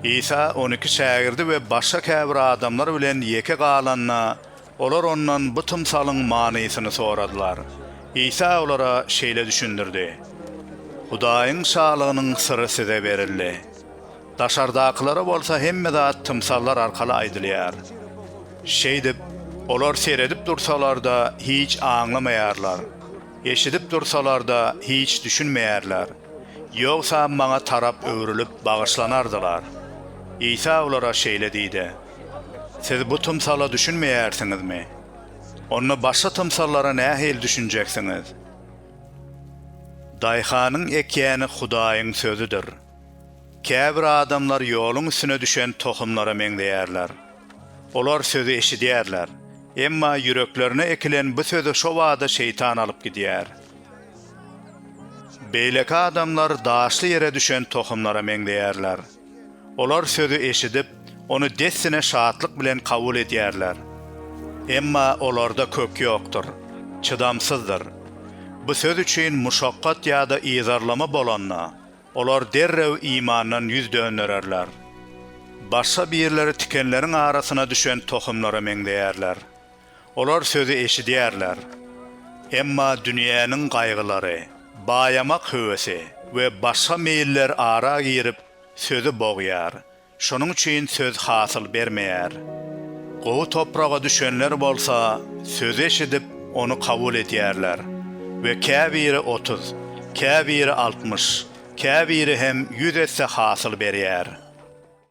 Isa on iki şägirdi we başga käbir adamlar bilen ýeke galanda, olar ondan bu tymsalyň manysyny soradylar. Isa olara şeýle düşündirdi, Hudaýyň Şalygynyň syry size berildi. Daşardakylara bolsa hemme zat tymsallar arkaly aýdylýar. Şeýdip, olar seredip dursalar-da, hiç aňlamaýarlar. Eşidip dursalar-da hiç düşünmeýärler. Ýogsa maňa tarap öwrülip bagyşlanardylar. Isa olara şeýle diýdi, Siz bu tymsala düşünmeýärsiňizmi? Onda başga tymsallara nähili düşünjeksiňiz? Daýhanyň ekýäni Hudaýyň sözüdir. Käbir adamlar ýoluň üstüne düşen tohumlara meňzeýärler. Olar sözi eşidýärler, emma ýüreklerine ekilen bu sözi şo bada Şeýtan alyp gidýär. Beýleki adamlar daşly ýere düşen tohumlara meňzeýärler. Olar sözi eşidip, ony dessine şatlyk bilen kabul edýärler. Emma olarda kök ýokdur, çydamsyzdyr. Bu söz üçin muşakgat ýa-da yzarlama bolanda, Olar derrew imandan ýüz döndererler. Başga birleri tikenleriň arasyna düşen tohumlara meňzeýärler. Olar sözi eşidýärler. Emma dünýäniň gaýgylary, baýamak höwesi we başga meýiller ara girip, sözi bogýar Şonuň üçin söz hasyl bermeýär. Gowy topraga düşenler bolsa sözi eşidip, ony kabul edýärler we käbiri otuz, käbiri altmyş, käbiri hem ýüz esse hasyl berýär.